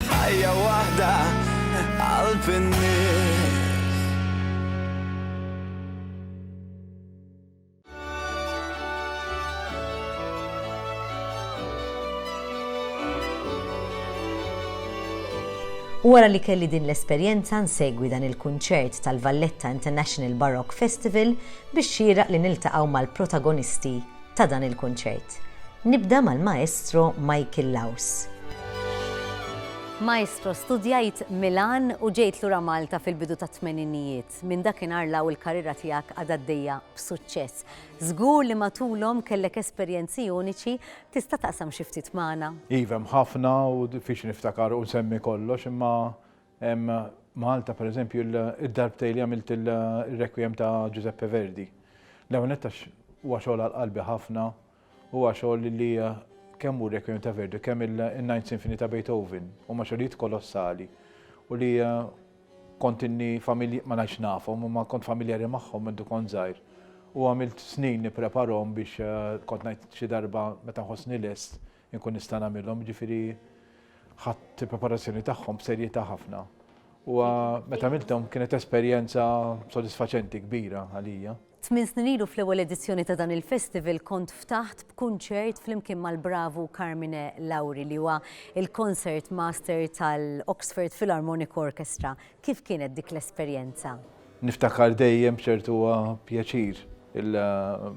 Ħajja waħda qalb in-nies. U wara li kelli din l-esperjenza nsegwi dan il-kunċert tal-Valletta International Baroque Festival biex xieraq li niltaqgħu mal-protagonisti ta' dan il-kunċert. Nibda mal-Maestro Michael Laus. Maestro, studjajt Milan u ġejt lura Malta fil-bidu tat-tmeninijiet. Minn dakinhar 'l hawn il-karriera tiegħek għadha għaddejja b'suċċess. Żgur li matulhom kellek esperjenzi uniċi, tista' taqsam xi ftit magħna? Iva hemm ħafna u diffiċli niftakar u nsemmi kollox imma Malta, per eżempju, id-darbtejn li għamilt il-Requiem ta' Giuseppe Verdi. L-ewwel nett għax huwa xogħol għal qalbi ħafna, huwa xogħol li kemm hu Requiem ta' Verdi, kemm il-Ninth Symphony ta' Beethoven, huma xogħlijiet kolossali u li kont inni familji ma ngħidx nafhom, imma kont familjari magħhom minn kont żgħir. U għamilt snin nippreparhom biex kont ngħid xi darba meta nħossni lest Inkun nista' nagħmilhom, jiġifieri ħadt il-preparazzjoni tagħhom b'serjetà ħafna. U meta għamilthom kienet esperjenza sodisfaċenti kbira għalija. Tmien snin ilu fl-ewwel edizzjoni ta' dan il-festival kont ftaħt b'kunċert flimkien mal-bravu Carmine Lauri li huwa il-concert master tal-Oxford Philharmonic Orchestra. Kif kienet dik l-esperjenza? Niftakar dejjem b'ċertu pjaċir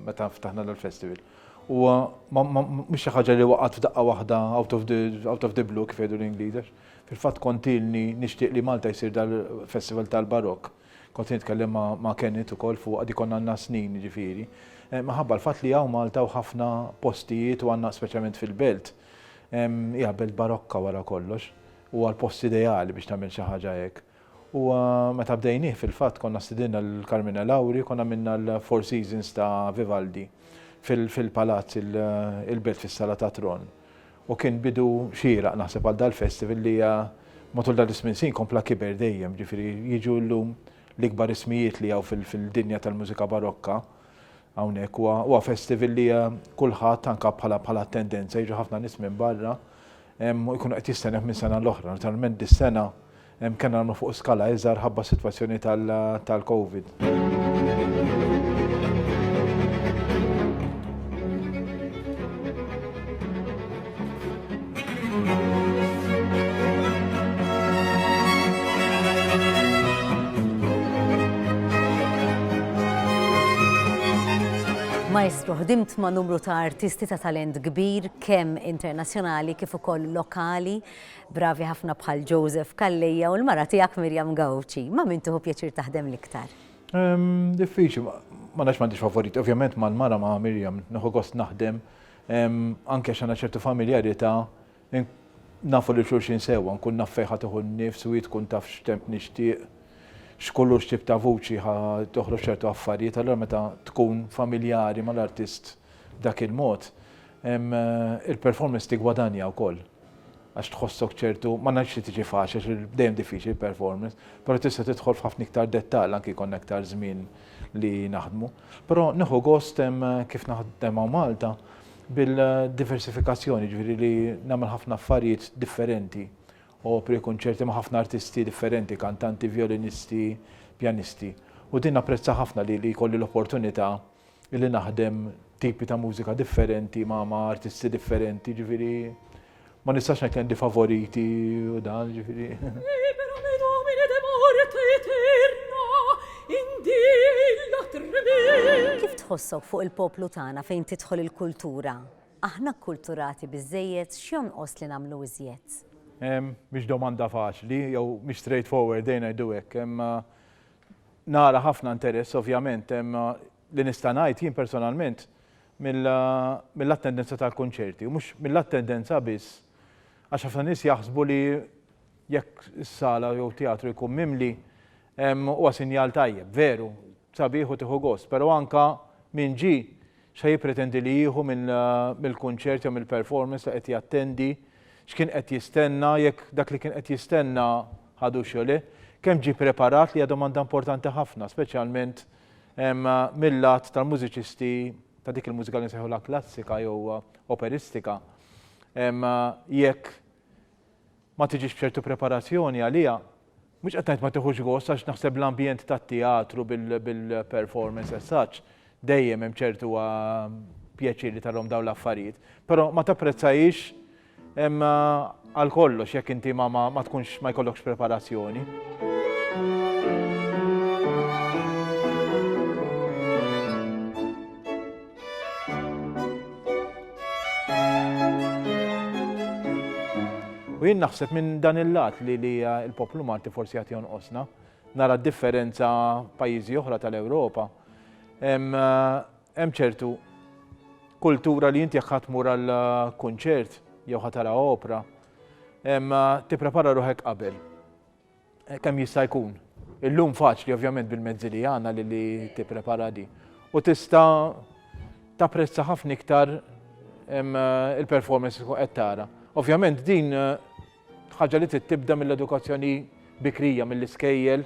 meta ftaħna dal-festival. Huwa ma ma mhux xi ħaġa li waqgħet f'daqqa waħda out of the out of the blue kif jgħidu l-Ingliż għax fil-fatt kont ilni nixtieq li Malta jsir dal-festival tal-barokk. Kont se nitkellem ma ma Kenneth ukoll fuqha dik konna għandna snin jiġifieri. Minħabba l-fatt li hawn Malta u ħafna postijiet u għandna speċjalment fil-belt hija belt barokka wara kollox. Huwa l-post ideali biex tagħmel xi ħaġa hekk. U meta bdejnieh fil-fatt konna stidinna lil Carmina Lauri u konna għamilna l-Four Seasons ta' Vivaldi fil-Palazz il-Belt fis-Sala tat-Tron. U kien bidu xieraq naħseb għal dal-festival li matul dan is-smien snin kompla kiber dejjem, jiġifieri jiġu llum l-ikbar ismijiet li hawn fil-dinja tal-mużika barokka hawnhekk. Huwa festival li kulħadd anke bħala tendenza jiġu ħafna nies minn barra u jkunu qed jistennew minn sena l-oħra. Naturalment dis-sena kellna nagħmlu fuq skala iżgħar ħabba s-sitwazzjoni tal-Covid. Maestro, ħdimt ma' numru ta' artisti ta' talent kbir, kemm internazzjonali kif ukoll lokali, bravi ħafna bħal Joseph Calleja u l-mara tiegħek Miriam Gauci. Ma' min tieħu pjaċir taħdem l-iktar? Diffiċli, ma nafx m'għandix favoriti. Ovvjament mal-mara ma' Miriam nieħu gost naħdem anke għax għandna ċertu familjarità, nafu lil xulxin sewwa, nkun naf fejn ħa tieħu n-nifs u hi tkun taf x'temp nixtieq, x'kulur x'tip ta' vuċi ħa toħroġ ċertu affarijiet, allura meta tkun familjari mal-artist B'dak il-mod, il-performance tiggwadanja wkoll għax tħossok ċertu, ma ngħidx li tiġi faċli għax dejjem diffiċli l-performance, però tista' tidħol f'ħafna iktar dettall anki jkollna iktar żmien li naħdmu. Però nieħu gost kif naħdem hawn Malta bil-diversifikazzjoni, jiġifieri li nagħmel ħafna affarijiet differenti, opri, kunċerti ma' ħafna artisti differenti, kantanti, vjolinisti, pjanisti. U din napprezzaha ħafna li jkolli l-opportunità illi naħdem tipi ta' mużika differenti ma' ma' artisti differenti, ġifiri ma nistax ngħid għandi favoriti u dan, ġifiri. Kif tħossok fuq il-poplu tagħna fejn tidħol il-kultura? Aħna kkulturati biżejjed x'jonqos li nagħmlu iżjed? Mhix domanda faċli, jew mhix straightforward dejn ngħidu hekk, imma Nara ħafna interess ovvjament, imma li nista' ngħid jien personalment mill-attendenza tal-kunċerti, u mhux mill-attendenza biss, għax ħafna nies jaħsbu li jekk is-sala jew teatru jkun mimli huwa sinjal tajjeb, veru, sabiħ u tieħu gost, però anke min ġie X'se jippretendi li jieħu mill-kunċert jew mill-performance li qed jattendi? X'kien qed jistenna? Jekk dak li kien qed jistenna ħadux jew le? Kemm ġie preparat li hija domanda importanti ħafna, speċjalment mil-lat tal-mużiċisti ta' dik il-mużika li nsejħulha klassika jew operistika. Jekk ma tiġix b'ċertu preparazzjoni għaliha, mhux qed ngħid ma tiħux gost għax naħseb l-ambjent tat-teatru bil-performance as such dejjem hemm ċertu pjaċir li tarahom dawn l-affarijiet, però ma tapprezzahiex għal kollox jekk inti ma tkunx ma jkollokx preparazzjoni. U jien naħseb minn dan il-lat li li il-poplu Malti forsi għati jonqosna, nara differenza pajjiżi oħra tal-Ewropa. Hemm eh, ċertu kultura li inti jekk ħatmur għal eh, kunċert jew ħatara opra, eh, tipprepara ruħek qabel. Kemm jista' jkun. Illum faċli ovvjament bil-mezzi li għandna li li tipprepara di. U tista' tapprezza ħafna iktar il-performance qed tara. Ovvjament din ħaġa li trid tibda mill-edukazzjoni bikrija mill-iskejjel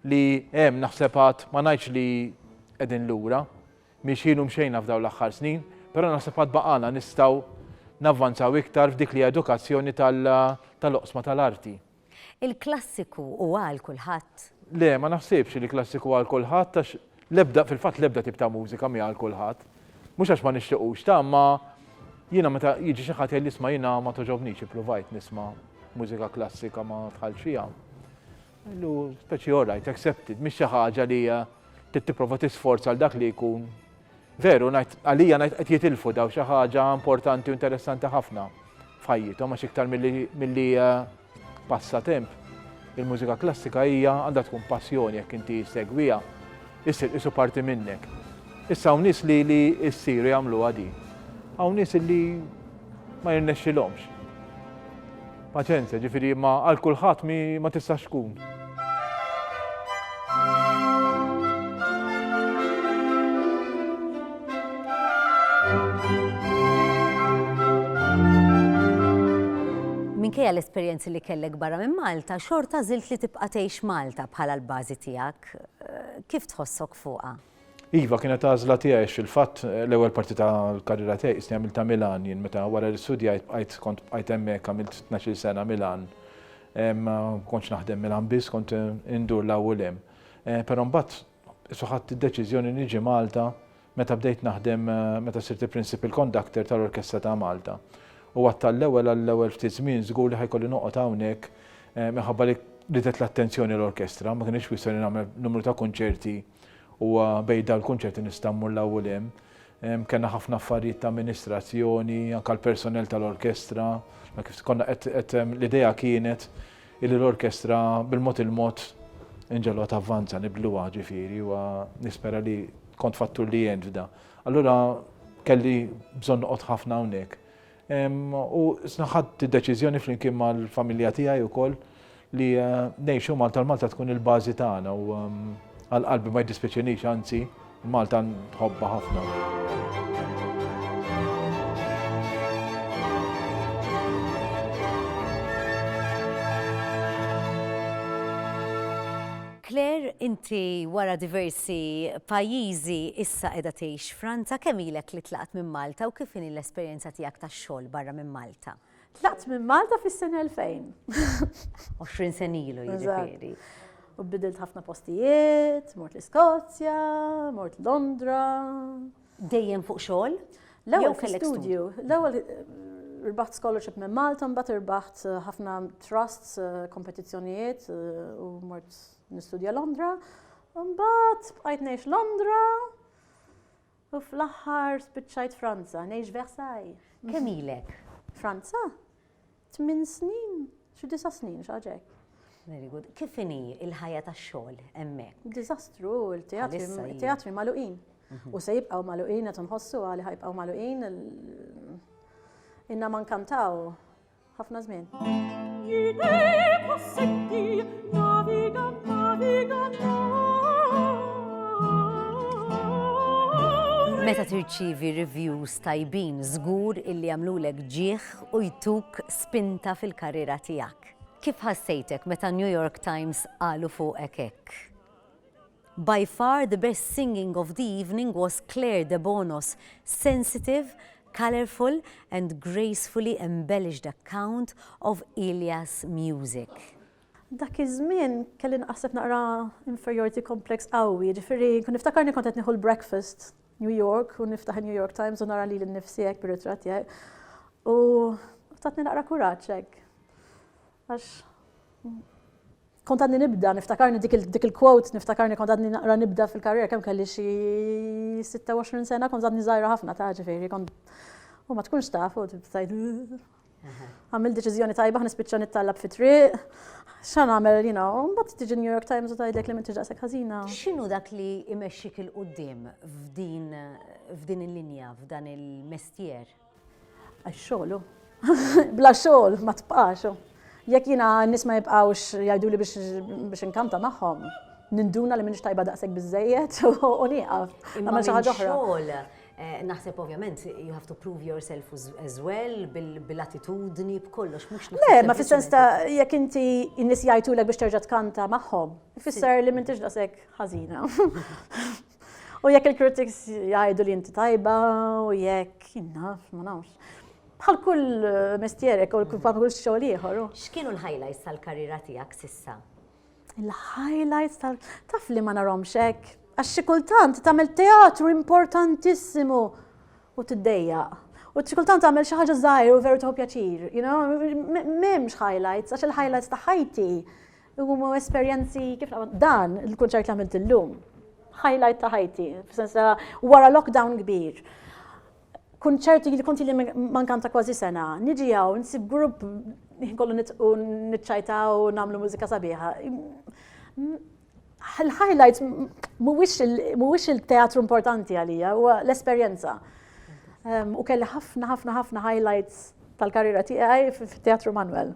li hemm naħseb għad ma ngħidx li qegħdin lura, miexjin u mxejna f'dawn l-aħħar snin, però naħseb għad baqala nistgħu navvanzaw iktar f'dik li edukazzjoni tal-oqsma tal-arti. Il-klassiku hu għal kulħadd? Le, ma naħsibx li klassiku hu għal kulħadd għax l-ebda, fil-fatt l-ebda tip ta' mużika mhi għal kulħadd. Mhux għax ma nixtiqux, ta' imma jiena meta jiġi xi ħadd jgħidli isma' jiena ma togħġobnix ippruvajt nisma' mużika klassika ma dħaltx fiha. Ngħidlu speċi all right, accepted, mhix xi ħaġa li trid tipprova tisforza għal dak li jkun Veru, ngħid għalija ngħid qed jitilfu daw xi ħaġa importanti u interessanti ħafna f'ħajjithom għax iktar milli eh, passatemp. Il-mużika klassika hija għandha tkun passjoni jekk inti segwija, issir isu parti minnek. Issa hawn nies li li ssiru jagħmluha di. Hawn nies li ma jirnexxilhomx. Paċenzja, ġifieri imma għal kulħadd mi ma tistax tkun. minkejja l-esperjenzi li kellek barra minn Malta, xorta zilt li tibqa' tgħix Malta bħala l-bażi tiegħek. Eh, kif tħossok fuqha? Iva, kienet għażla tiegħi għax fil-fatt l-ewwel parti tal-karriera tiegħi qisni għamiltha Milan jien meta wara li studjajt bqajt kont bqajt hemmhekk għamilt tnax-il sena Milan. Ma kontx naħdem Milan biss, kont indur l-hawn u l-hemm. Però mbagħad isu ħadt id-deċiżjoni niġi Malta meta bdejt naħdem meta sirt il-Principal Conductor tal-Orkestra ta' Malta. U għadt għall-ewwel għall-ewwel ftit żmien żgur li ħa jkolli noqgħod hawnhekk minħabba li ridet l-attenzjoni l-orkestra, ma kinitx kwistjoni nagħmel numru ta' kunċerti, U bejn dawn il-kunċetti nista' mmur 'l hawn u 'l hemm. Kellna ħafna affarijiet ta' amministrazzjoni, anke l-personell tal-orkestra, ma kif konna qed qed l-idea kienet illi l-orkestra bil-mod il-mod inġegħluha tavvanza, nibdluha ġifieri u nispera li kont fattur li għen f'da. Allura kelli bżonn noqgħod ħafna hawnhekk. U ħadt id-deċiżjoni flimkien mal-familja tiegħi wkoll li ngħixu Malta, l-Malta tkun il-bażi tagħna u għal qalbi ma jiddispjaċinix anzi Malta nħobba ħafna. Claire, inti wara diversi pajjiżi issa qiegħda tgħix Franza, kemm ilek li tlaqt minn Malta u kif inhi l-esperjenza tiegħek tax-xogħol barra minn Malta? Tlaqt minn Malta fis-sena 2000. 20 sena ilu jiġifieri. U bidilt ħafna postijiet, mort l-Iskozja, mort Londra, Dejjem fuq xogħol? L-ewwel kellek studju. L-ewwel rbaħt scholarship minn Malta, mbagħad irbaħt eh, ħafna trusts, eh, kompetizzjonijiet eh, u mort nistudja Londra. Mbagħad bqajt ngħix Londra u fl-aħħar spiċċajt Franza, ngħix Versailles. Kemm ilek? Franza? Tmien snin, xi disa' snin, xi ħaġa hekk. Very good. Kif inhi l-ħajja tax-xogħol hemmhekk? Diżastru, il-teatri magħluqin. Mhm. U se jibqgħu magħluqin qed inħossu għali ħajbqgħu magħluqin inna ma nkantaw ħafna żmien. Meta tirċivi reviews tajbin, żgur illi għamlulek ġieħ jgħinek u jtuk spinta fil-karriera tiegħek. Kif ħassejtek meta New York Times qalu fuqek hekk? By far the best singing of the evening was Claire Debono's sensitive, colourful and gracefully embellished account of Ilya's music. Dak iż-żmien kelli nqasseb naqra inferiority complex qawwi, jiġifieri kont niftakarni kont qed nieħu l-breakfast New York u niftaħ il-New York Times u nara lili nnifsi hekk bir-ritratt tiegħi. U tatni naqra kuraġġ hekk. Għax kont għadni nibda, niftakarni dik il-quote, niftakarni kont għadni naqra nibda fil-karriera kemm kelli xi 26 sena, kont għadni żgħira ħafna ta' ġifieri, kont u ma tkunx taf u tibsajd Għamil deċiżjoni tajba ħnispiċċa nittallab fi triq. X'għan għamel, you know, mbagħad tiġi New York Times u tgħidlek li m'intix daqshekk ħażina. X'inhu dak li imexxik il qudiem f'din f'din il-linja, f'dan il-mestier? Għax-xogħlu. Bla xogħol ma tbqax. Jekk jiena n-nies ma jibqgħux jgħiduli biex inkanta magħhom, ninduna li minix tajba daqshekk biżejjed u nieqaf. Imma xi ħaġa oħra. Naħseb ovvjament you have to prove yourself as well bil-attitudni b'kollox mhux naħseb. Le, ma fis-sens ta' jekk inti n-nies jgħidulek biex terġa' tkanta magħhom, ifisser li m'intix daqshekk ħażina. U jekk il-critics jgħidu li inti tajba u jekk jinnaf, ma nafx. Bħal kull mistierek u kull xogħol ieħor. X'kienu l-highlights tal-karriera tiegħek sissa? Il-highlights tal taf li ma narhomx hekk għax xi kultant tagħmel teatru importantissimu u tiddejjaq. U xi kultant tagħmel xi ħaġa żgħir u veru tieħu pjaċir, you know, m'hemmx highlights għax il-highlights ta' ħajti huma esperjenzi kif dan il-kunċert li għamilt illum. Highlight ta' ħajti, f'sens wara lockdown kbir. kunċert li kont li mankan ta' kważi sena, niġi għaw, nsib grupp kollu nitqu nitċajta u namlu mużika sabiħa. Il-highlight mhuwiex il-teatru importanti għalija, huwa l-esperjenza. U kelli ħafna ħafna ħafna highlights tal-karriera tiegħi fit-Teatru Manuel.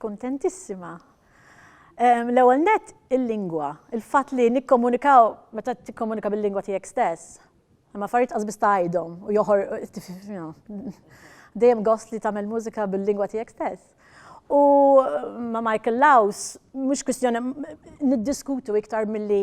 Kuntentissima. L-ewwel nett il-lingwa, il-fatt li nikkomunikaw meta tikkomunika bil-lingwa tiegħek stess. Imma affarijiet qas biss tgħidhom u joħor dejjem gost li tagħmel mużika bil-lingwa tiegħek stess. U ma' Michael Laws mhux kwistjoni niddiskutu iktar milli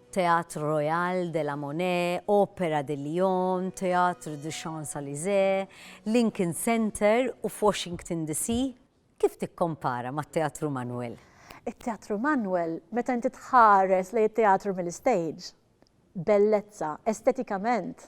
Théâtre Royal de la Monnaie, Opéra de Lyon, Théâtre des Champs-Elysées, Lincoln Center u f'Washington DC, kif tikkompara mat-Teatru Manuel? It-Teatru Manuel, meta inti tħares lejn it-teatru mill-istage, bellezza, estetikament,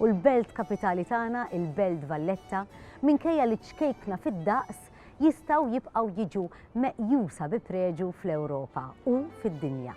u l-belt kapitali tagħna, il-Belt Valletta, minkejja li ċkejkna fid-daqs, jistgħu jibqgħu jiġu meqjusa bi preġu fl-Ewropa u fid-dinja.